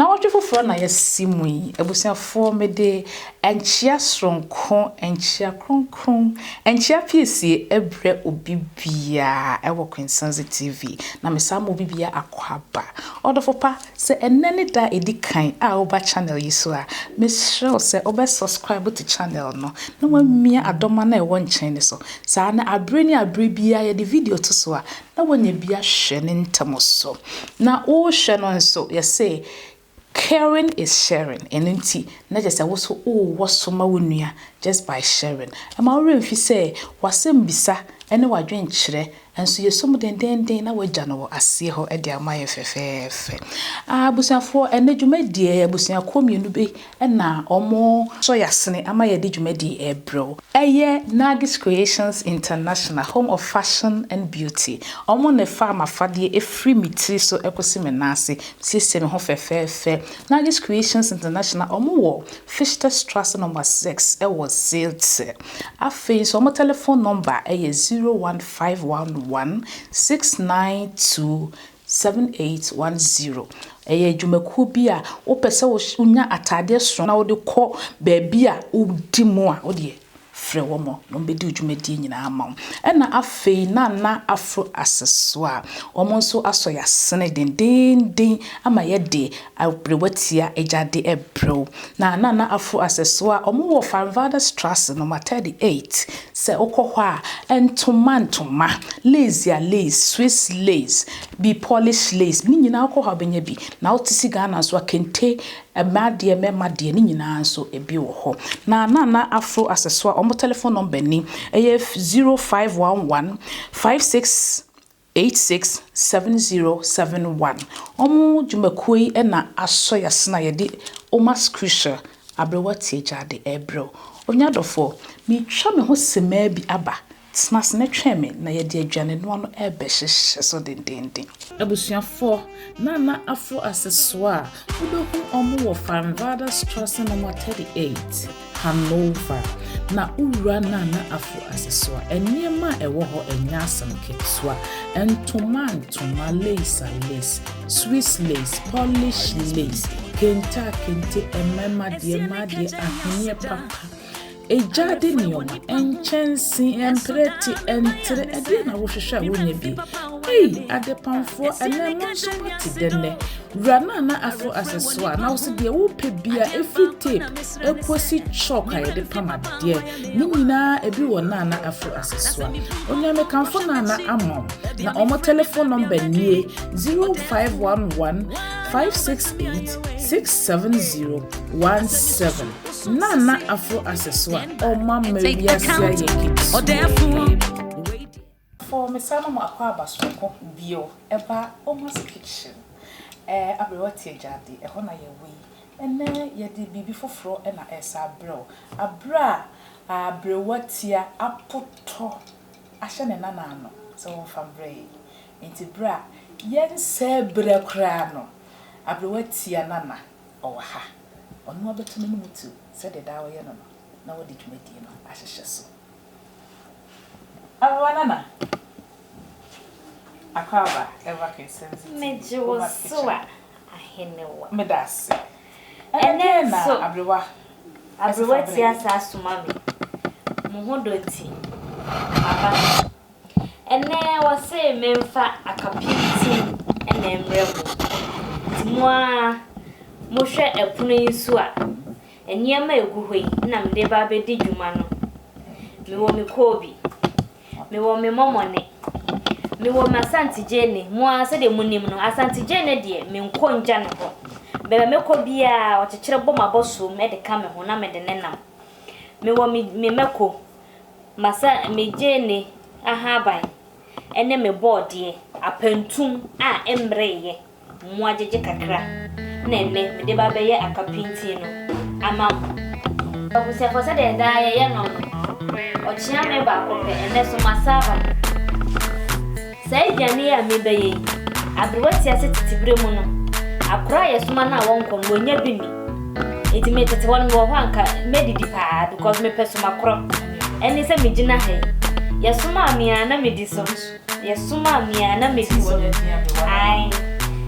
Nnawɔtwe foforɔ na yɛasi mu yi, abusuafoɔ, mede nkyea soronko, nkyea kronkron, nkyea piesie rebrɛ obi biara wɔ Quintsense TV, na mesan ma obi biara akwaaba. Ɔdɔfo pa, Sɛ ɛnnɛ ne da a ɛdi kan a woba channel yi so a, mesrɛ wo sɛ wobɛ subscribe to channel no na woamia adɔma no a ɛwɔ nkyɛn no so. Saa na abere ne abere biara yɛde video to so a, na woanya bi ahwɛ ne ntɛm so. Na worehwɛ no nso, yɛse caring is sharing, ɛno nti na kyerɛ sɛ wo nso wowɔ so ma wo nua just by sharing. Ɛma wo werɛ mfi sɛ w'asɛmmisa ne w'adwenkyerɛ Nanso yɛsɔ mu dendeenden na wɔagya no wɔ aseɛ hɔ de ama yɛn fɛfɛɛfɛ. Abusuafoɔ, ɛnnɛ dwumadie yi abusuakuo mmienu bi na wɔsɔ yɛn asene ama yɛde dwumadie yi rebrɛ wo. Ɛyɛ Nagis Creations International, Home of Fashion and Beauty. Wɔn na ɛfaa m'afadeɛ ɛfiri me tiri so kɔsi me nan ase. Mesiesie me ho fɛfɛɛfɛ. Nagis Creations International, wɔwɔ Fichterstrasse nɔma 6 wɔ Zelte. Afei nso, wɔn telephone number yɛ zero one five one one six nine two seven eight one zero. Ɛyɛ adwumakuo bi a wopɛ sɛ wonya ataadeɛ sononko na wode kɔ baabi a wodi mu a, wo deɛ frɛ wɔn na wɔbɛdi wo dwumadie nyinaa ama wo. Ɛna afei Nana Afro Accessoire, wɔn nso asɔ yɛn asene dendeenden ama yɛde Aberewatia agya de brɛ wo. Na Nana Afo Asɛsoa a wɔwɔ Farnvaderstrasse nɔma 38, sɛ wokɔ hɔ a, ntoma ntoma, Leysia lace, Swiss lace, bi Polish lace, ne nyinaa wokɔ hɔ a wobɛnya bi. Na wote se Ghana nso a, kente, mmaa deɛ, mmarima deɛ, ne nyinaa nso ebi wɔ hɔ. Na Nana Afo Asɛsoa wɔn telephone number ni, ɛyɛ 0511 56 867071 Wɔn dwumakuo yi na asɔ yasene a yɛde Omas Crucial aberewa tiagyade rebrɛ wo. Onya dɔfoɔ, meretwa me ho simmaa bi aba, tena ase na twɛn me na yɛde aduanenoa no rebɛhyehyɛ so dendeenden. Abusuafoɔ, Nana Afro Asesoa a wobɛhu wɔn wɔ Farnvaarderstrossen nɔma 38. Hanover, na wowura Nana Afo ase so a, nneɛma a ɛwɔ hɔ nyɛ asɛm ketewa. Ntoma a ntoma, lace a lace, Swiss lace, Polish lace, kente a kente, mmarima deɛ, mmaa deɛ, ahweneɛ papa, gyaade nneɛma, nkyɛnsee, mprɛte, ntere, ɛdeɛn na wohwehwɛ a wonnya bi? Ei, adepamfoɔ, ɛnɛ mo nso moate dɛ nnɛ? Wura Nana Afo ase so a, na wo se deɛ wopɛ biara, ɛfiri tape, ekosi chalk a yɛde pam adeɛ, ne nyinaa ebi wɔ Naana Afro Asesoa. Onyamekamfo Naana ama wo, na wɔn telephone number nie, 0511 568 67017. Naana Afro Asesoa, wɔma wiase ayɛ ketewa. Afɔɔ mesa no mo akwaaba soronko bio ɛba Oma's kitchen ɛɛ aberewa tie gyaadi ɛhɔ na yɛ wɔ yi ɛnɛ yɛde biribi foforɔ na ɛsa abrɛ wo aberɛ a aberewa tia apotɔ ahyɛ ne nana ano sɛ wɔnfa mbrɛ yɛ nti berɛ a yɛnsɛɛ berɛ koraa no aberewa tia nana ɔwɔ ha ɔno abɛto n'anum tiw sɛdeɛ daa ɔyɛ no no na wode dwumadie no ahyehyɛ so. Megye wo so a Ahenewa. Ɛnnɛ nso aberewa ti asa asoma me, mo ho dɔ nti maba ha. Ɛnnɛ wɔse memfa akapem tin na ɛmmrɛ mo, nti mo ara mohwɛ ɛpono yi so a. Nneɛma a ɛgu hɔ yi na mede reba abɛdi dwuma no, mewɔ me koobi, mewɔ me mɔmɔne, mewɔ m'Asante Gyeene, mo ara sɛdeɛ monim no, Asante Gyeene deɛ menkɔ ngya ne hɔ. Baabi a mɛkɔ biara, ɔkyekyere bɔ m'abɔsoam de ka me ho na mede ne nam. Mewɔ me me mako, m'asa me gyeene ahaban ne me bɔɔdeɛ, apantum a ɛmmereeɛ. Mmoa gyegye kakra na ɛnnɛ mede ba abɛyɛ aka pintinn no ama mo. Mahu sɛ ɛfɔ sɛdeɛ daa yɛyɛ no no, ɔkyea mmɛ baako pɛ, ɛnnɛ so masan aba mu. Saa aduane yi a merebɛyɛ yi, aberewa te ase tete berɛ mu no, akora a yɛsoma no a wɔnkɔ no, wɔnnya bi nni. Enti me tete hɔ no, mewɔ hɔ a nka mɛdidi paa because mepɛ so makorɔ. Ɛne sɛ megyina ha yi, yɛsomaa me a na medi so. Yɛsomaa me a na medi hɔ no. Ae.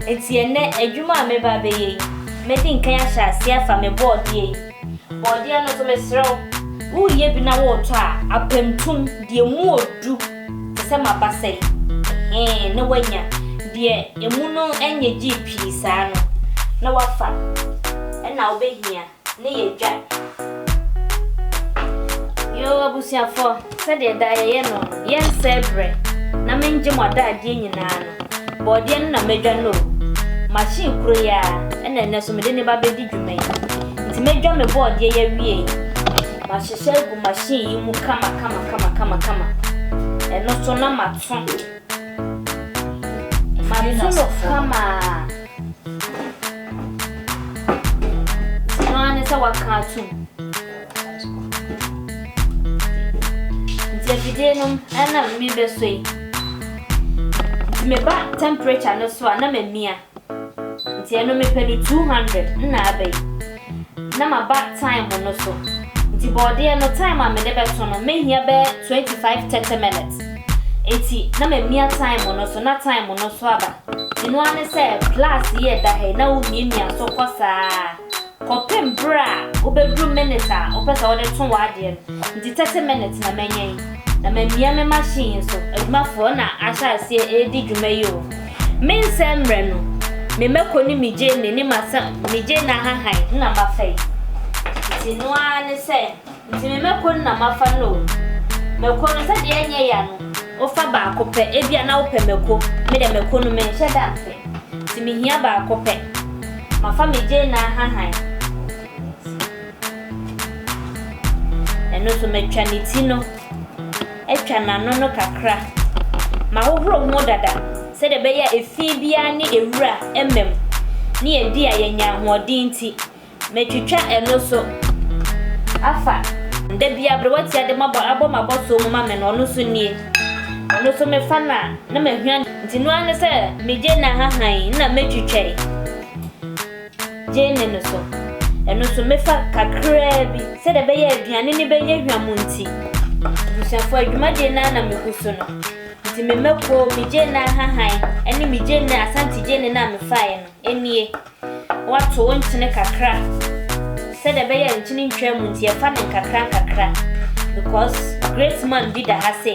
Enti ɛnnɛ, adwuma a mereba abɛyɛ yi, mɛdi nkan ahyɛ aseɛ afa me bɔɔdeɛ yi. Bɔɔdeɛ no nso, mesrɛ wo, woreyɛ bi na woretɔ a, apamtum, deɛ emu wɔ du te sɛ m'abasa yi, hee, na woanya deɛ emu no nyɛ gyee pii saa no na woafa. Ɛnna wobɛhia. ne yɛ dwa. Yoo abusuafoɔ, sɛdeɛ daa yɛyɛ no no, yɛnsɛe berɛ na mengye mo adaadeɛ nyinaa no, bɔɔdeɛ no na mɛdwa no o. Machine koro yi ara na ɛnnɛ nso mede no ba bɛdi dwuma yi. Nti mɛdwa me bɔɔdeɛ yi awie yi, mahyehyɛ agu machine yi mu kama kama kama kama kama. Ɛno nso na mato. Mato no kama a. Sika no ara ne sɛ waka atom. Nti afidie no ɛna mebɛsɔ yi. Nti meba temperature no so a na mamia. Nti ɛno mepɛ no two hundred nna aba yi na maba time no so nti bɔɔdeɛ no time a mede bɛto no mɛhia bɛyɛ twenty five thirty minutes nti na mamia time no so na time no so aba nti no ara ne sɛ plus yi ɛda ha yi na womiamia so kɔ saa kɔpem berɛ a wobɛduru minute a wopɛ sɛ wode to w'adeɛ no nti thirty minutes na manya yi na mamia me machine yi so. Adwumafoɔ na ahyɛ aseɛ redi dwuma yi o. Me nsa mmerɛ no, me mako ne me gyeene ne m'asa me gyeene ahahan na mafa yi. Nti no ara ne sɛ, nti me mako no na mafa no o. Mako no, sɛdeɛ ɛnyɛ ya no, wofa baako pɛ, ebia na wopɛ mako, me deɛ mako no menhyɛ da mfɛ, nti mehia baako pɛ. Mafa me gyeene ahahan. Ɛno nso, matwa ne ti no. atwa n'ano no kakra ma ahohoro ho dada sɛdeɛ ɛbɛyɛ a efi biara ne ewura mma mu, ne yɛdi a yɛanya ahoɔden nti. Matwitwa ɛno so afa. Da biara aberewatia de mabɔ abɔ m'abɔsoɔ mu ma me no, ɔno nso nie. Ɔno nso mefa no a, na mahwia. Nti no ara ne sɛ megye n'ahahan na metwitwa yi. Gyeene no so. Ɛno nso, mefa kakraa bi. Sɛdeɛ ɛbɛyɛ a aduane no bɛnyɛ hwam nti, abusuafoɔ, adwumadie no ara na megu so no. Nti me mako, me gyeene ahahan, ne me gyeene, Asante gyeene no a mefaeɛ no nie. Woato wo nkyene kakra. Sɛdeɛ ɛbɛyɛ a nkyene ntwam nti, yɛfa no nkakrankakra because great man bi da ha se,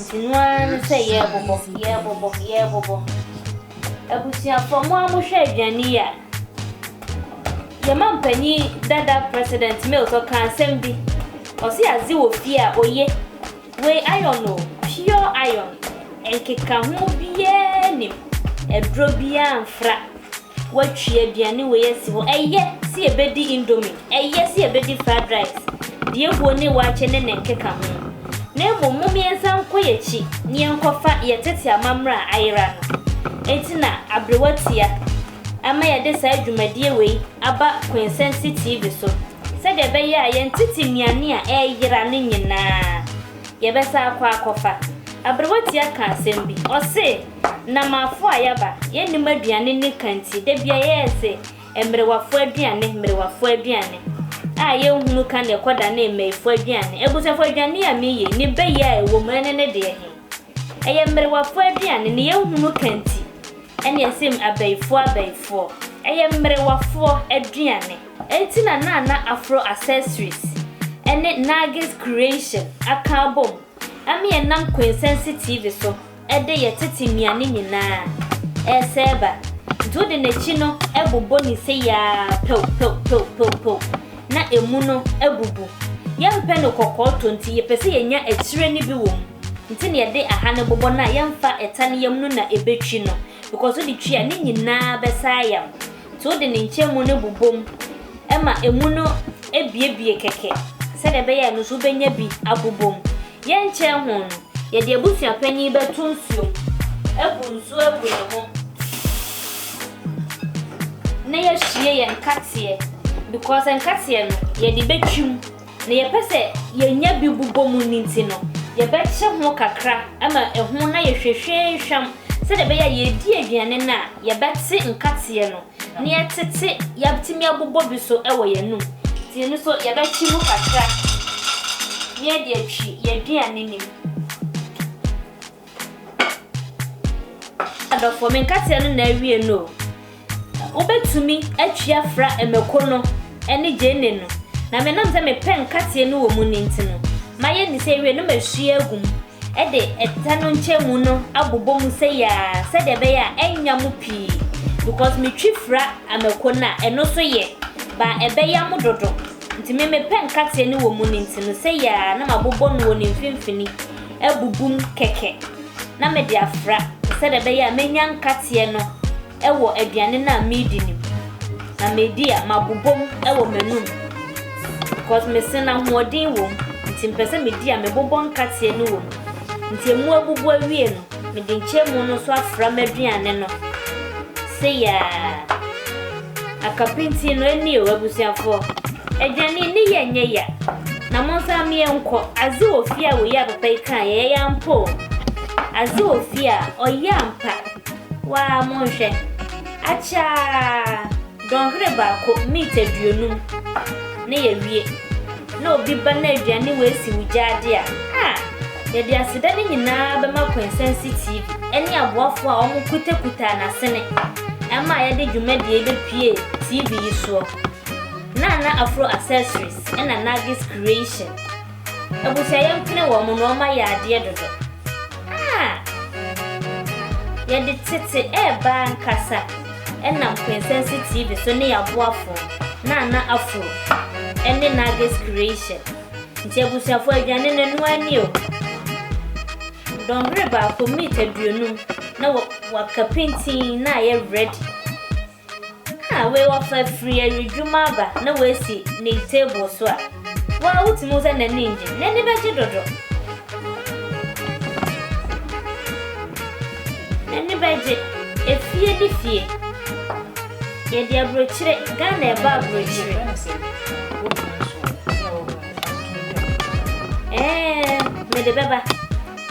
Nti no ara ne sɛ yɛrebobɔ, yɛrebobɔ, yɛrebobɔ. Abusuafoɔ, mo a mohwɛ aduane yi a, yɛn mampanin dada President Mills ɔka asɛm bi. Ɔse adze wɔ fie a oye. Wei iron o, pure iron. Nkekaho biara nim. Aduro biara mfra. Woatwi aduane wei asi hɔ. Ɛyɛ sɛ yɛbɛdi indomie, ɛyɛ sɛ yɛbɛdi fried rice, deɛ ɛwuo ne waakye ne ne nkekaho. Na mmom mom yɛnsan nkɔ yɛn akyi na yɛnkɔfa yɛn tete amammerɛ a ayera no. Enti na aberewa tua ma yɛde saa dwumadie wei aba Quintsense TV so sɛdeɛ ɛbɛyɛ a yɛn tete nnuane a ɛreyera no nyinaa yɛbɛsan akɔ akɔfa. Aberewa tua kaa asɛm bi, ɔse. Na m'afo a yɛaba, yɛnnim aduane ne ka nti, da biara yɛyɛ sɛ mmerewafo aduane, mmerewafo aduane a yɛnhunu ka na ɛkɔdane mmaifo aduane. Abusuafo, aduane a meyɛ yi, ne bɛ yɛ a ɛwɔ mu, ɛne ne deɛ he? Ɛyɛ mmerewafo aduane, ne yɛnhunu ka nti, ɛne ɛse abaifoɔ abaifoɔ. Ɛyɛ mmerewafoɔ aduane. Enti na Nana Afro Accessories ne Nargis Creation aka abom ama yɛnam Quintessence TV so. de yɛ tete nnuane nyinaa resɛɛba nti wode n'akyi no bobɔ ne se yi ara pɛw pɛw pɛw pɛw pɛw na ɛmu no abubu. Yɛmpɛ no kɔkɔɔ tɔ nti yɛpɛ sɛ yɛnya akyire no bi wɔ mu nti na yɛde aha no bobɔ no a yɛmfa ɛta no yam no na ɛbɛtwi no because wode twi a ne nyinaa bɛsan ayam Nti wode ne nkyɛnmu no bobɔ mu ma emu no biebie kɛkɛ sɛdeɛ ɛbɛyɛ a ɛno nso wobɛnya bi abobɔ mu. Yɛnkyɛn ho no, yɛde abusua panin bɛto nsuo mu, abu nsuo agu ne ho, na yɛahwie yɛn nkateɛ because nkateɛ no yɛde bɛtwi mu. Nea yɛpɛ sɛ yenya bi bobɔ mu no nti no, yɛbɛkyɛ ho kakra ma ɛho na yɛhwehwɛn hwam sɛnea ɛbɛyɛ a yɛredi aduane no a, yɛbɛte nkateɛ no na yɛatete, yɛatumi abobɔ bi nso wɔ yɛn anom. Nti ɛno nso yɛbɛkye mu kakra na yɛde atwi yɛn aduane no mu. Adɔfoɔ, me nkateɛ no na awie no o. Wobɛtumi atua fra Mako no ne Jane no, na me nam sɛ me pɛ nkateɛ no wɔ mu no nti no, mayɛ ne sɛ awie no masua agu mu de ɛtɛ no nkyɛmu no abobɔ mu sɛi ara sɛdeɛ ɛbɛyɛ a ɛnnya mo pii because me twi fra Mako no a ɛno so yɛ baa ɛbɛya mo dodo nti me me pɛ nkateɛ no wɔ mu no nti no sɛi ara na mabobɔ no wɔ ne mfimfini abubu mu kɛkɛ na mede afra sɛdeɛ ɛbɛyɛ a mɛnya nkateɛ no wɔ aduane no a meredi no mu. Na medi a, mabobɔ mu wɔ m'anum because mese no ahoɔden wɔ mu nti mepɛ sɛ medi a mebobɔ nkateɛ no wɔ mu. Nti ɛmu abubu awie no, mede nkyɛnmu no nso afra m'aduane no seyaa. Akapinti no eni o abusuafoɔ. Adwane ni yɛ nyɛ ya. Na mo nso ame yɛ nkɔ. Aze wɔ fie a woyɛ a papa yi kaa yɛ yɛ ampa o. Aze wɔ fie a ɔyɛ ampa. Waa mo nhwɛ. Akyaa! Dɔnhwere baako, meat aduonum. Ne yɛ wie. na obi ba na aduane wei si wo gyaade a, a, yɛde aseda no nyinaa bɛma Kwensansi TV ne aboafoɔ a wɔkutakutaa n'asene ma yɛde dwumadie yi bɛpue TV yi soɔ. Nana Afro Accessories na Nagis Creation. Abusua yɛmpene wɔn na wɔayɛ adeɛ dodo. a yɛde tete reba ankasa nam Quintessence TV so ne yɛaboafo Nana Afro ne Nagis Creation. Nti abusuafo aduane no ɛno ani o. Dɔnhwere baako meat aduonum na waka pintin na ayɛ ready. A wei ɔfa firi awiedwuma aba na wasi ne table so a, wo ara wotumi hu sɛ n'ani nnye. N'ani bɛgye dodo. N'ani bɛgye. Efie ne fie. Yɛde aburokyire, Ghana ɛbɔ aburokyire. Ɛɛn, mede bɛba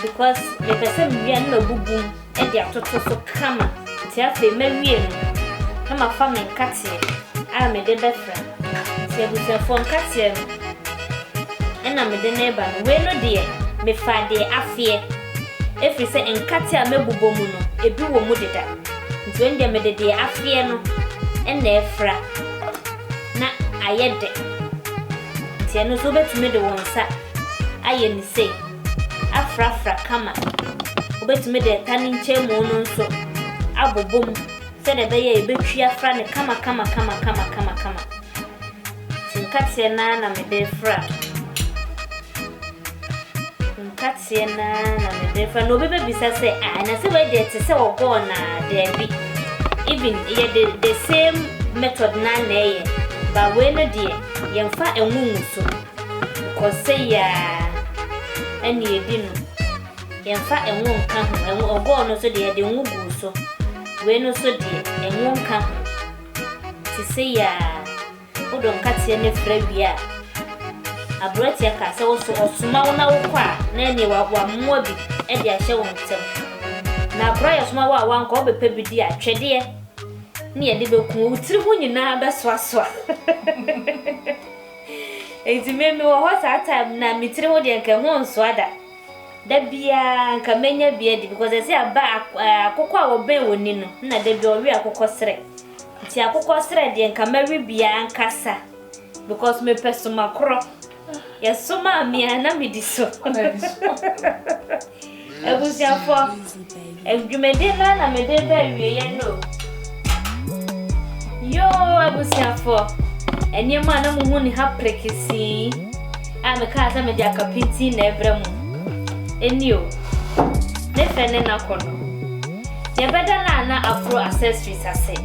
because mepɛ sɛ mewia na mabubu mu. de atoto so kama nti afei mawie no na mafa me nkateɛ a mede bɛfra nti abusuafoɔ nkateɛ no ɛna mede no reba no wei no deɛ mefaa deɛ afeɛ ɛfiri sɛ nkateɛ a mɛbobɔ mu no ebi wɔ mu deda nti wei no deɛ mede deɛ afeɛ no ɛna ɛfra na ayɛ dɛ nti ɛno nso wobɛtumi de wo nsa ayɛ ne sei. afrafra kama. Wobetumi de ɛta ne nkyɛnmu no nso abobom sɛdeɛ ɛbɛyɛ a yɛbɛtwi afra no kamakamakamakama. Nti nkateɛ no ara na mede refra no. Nkateɛ no ara na mede refra no. Na obi bɛbisa sɛ, ah, na sɛ wei deɛ te sɛ ɔgɔ anaa? Daabi. Even yɛ the, the same method no ara na ɛyɛ. But wei no deɛ, yɛmfa ɛngo ngu so. Kɔ sɛ yiaa ɛna edi no. Yɛnfa ngo nka ho. Ngo, ɔgɔɔ no nso deɛ yɛde ngo guu so. Wei no nso deɛ, ngo nka ho. Nti sɛ yiaa, wodɔ nkateɛ no fra wie a, abereteɛ kaa sɛ wo so ɔsoma wo na wokɔ a, na ɛneɛ wa, wamoa bi de ahyɛ wo nsam. Na akoraa yɛsoma wo a wankɔ a, wobɛpɛ bi di a, twɛdeɛ ne yɛde bɛku wo. Wo tiri ho nyinaa bɛsoasoa. Enti me mewɔ hɔ saa time no a me tiri ho deɛ nka ɛho nsoa da. Da biara nka mɛnya bi adi because ɛsɛ aba akokɔ a wɔbɛn wɔ ni no na da bi ɔwe akokɔ serɛ. Nti akokɔ serɛ deɛ nka mɛwe bi ankasa because mepɛ somakorɔ. Yɛsomaa me a na medi so. Abusuafoɔ, dwumadie no ara na mede reba awieɛ no o. Yoo abusuafoɔ, nneɛma a na mohu ne ha prekesee a mekaa sɛ mede aka pintinn na ɛrebrɛ mo no, nie o. Ne fɛ ne n'akɔnnɔ. Yɛbɛda Nana Afro Accessories ase,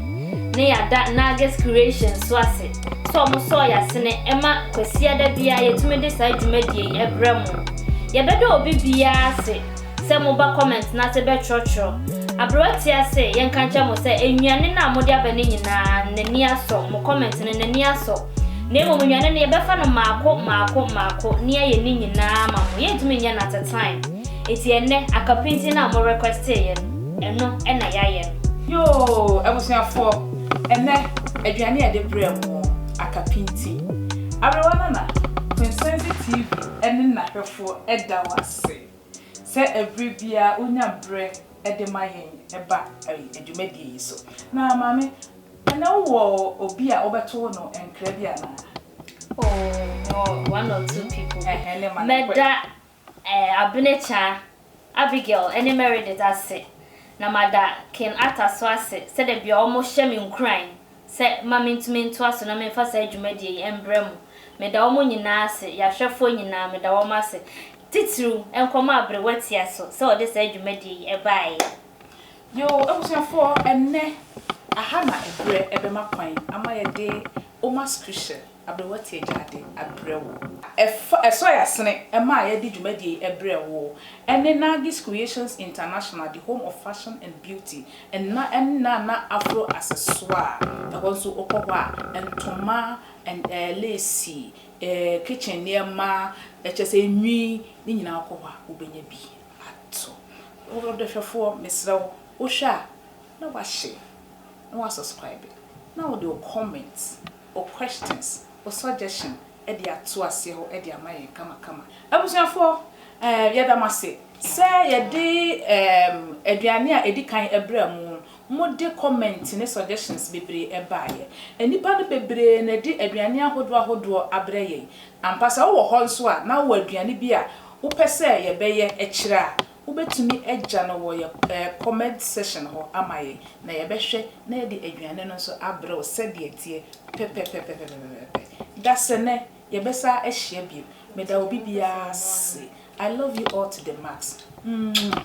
na yɛada Nagis Creations nso ase. sɛ ɔmo sɔɔ y'asene ɛma Kwasiada biara yɛtumi de saa dwumadie yi ɛbrɛ mo. Yɛbɛda obi biara ase sɛ mo ba comment no ase bɛtwerɛtwerɛ. Aberewa te ase yɛnka nkyerɛ mo sɛ nnuane no a mode aba no nyinaa n'ani asɔ, mo comment no n'ani asɔ. Na mmom nnuane no yɛbɛfa no maako maako maako ne yɛayɛ ne nyinaa ama mo. Yɛntumi nyɛ no at a time. Enti ɛnnɛ akapintin no a mo requestee yɛ no, ɛno na yɛayɛ no. Yoo abusuafoɔ! Ɛnnɛ, aduane a yɛde brɛ mo no aka pintinn. Aberewa Nana Kwensense TV ne n'ahwɛfoɔ da wo ase sɛ ɛberɛ biara wonya berɛ de ma yɛn ba dwumadie yi so. Na maame, ɛnnɛ wowɔ obi a wobɛto no nkra bi anaa? Oh, mewɔ one or two people. Ɛhɛn, ne ma no nkɔ ɛ. Mɛda Abene kyaa Abigail ne Meredith ase, na mada Ken Arthur so ase sɛdɛ bia ɔmo hyɛ me nkuran sɛ ma mentumi ntoa so na memfa saa dwumadie yi mbrɛ mu. Meda ɔmo nyinaa ase, yɛahwɛfoɔ nyinaa meda wɔn ase, titiriw nkɔmɔ a Aberewa tia so sɛ ɔde saa dwumadie yi baeɛ. Yoo abusuafoɔ ɛnnɛ aha na ɛberɛ bɛma kwan ama yɛde Oma Scripture. Aberewa tiagyaa de abrɛ wo. Ɛfa ɛsɔe asene ɛma a yɛde dwumadie yi ɛbrɛ wo ɛne Nargis Creations International the home of fashion and beauty nna ɛne Nana Afro Accessoire ɛhɔ nso wokɔ hɔ a ntoma and ɛɛ lace ɛɛ kitchen nneɛma ɛkyɛ sɛ nwi ne nyinaa wokɔ hɔ a wobɛnya bi atɔ Ɔdɔhwɛfoɔ mesrɛ wo wohwɛ a na woahyɛ na woasubscribe na wode wo comment. o questions, o suggestion de ato aseɛ hɔ de ama yɛn kamakama. Abusuafoɔ, eh, yɛda mo ase sɛ yɛde eh, aduane a ɛdi kan ɛbrɛ mo. Mode comment ne suggestions bebree baeɛ. Nnipa no bebree na ɛde aduane ahodoɔ ahodoɔ abrɛ yɛn. Ampa sɛ wowɔ hɔ nso a na wowɔ aduane bi a wopɛ sɛ yɛbɛyɛ kyerɛ a, Wobɛtumi agya no wɔ yɛ comment section hɔ ama yɛn na yɛbɛhwɛ na yɛde aduane no nso abrɛ wo sɛdeɛ ɛteɛ pɛpɛpɛpɛpɛpɛpɛpɛ. Dasenɛ, yɛbɛsan ahyia bio. Meda obi biara ase. I love you all to the max. Mwah.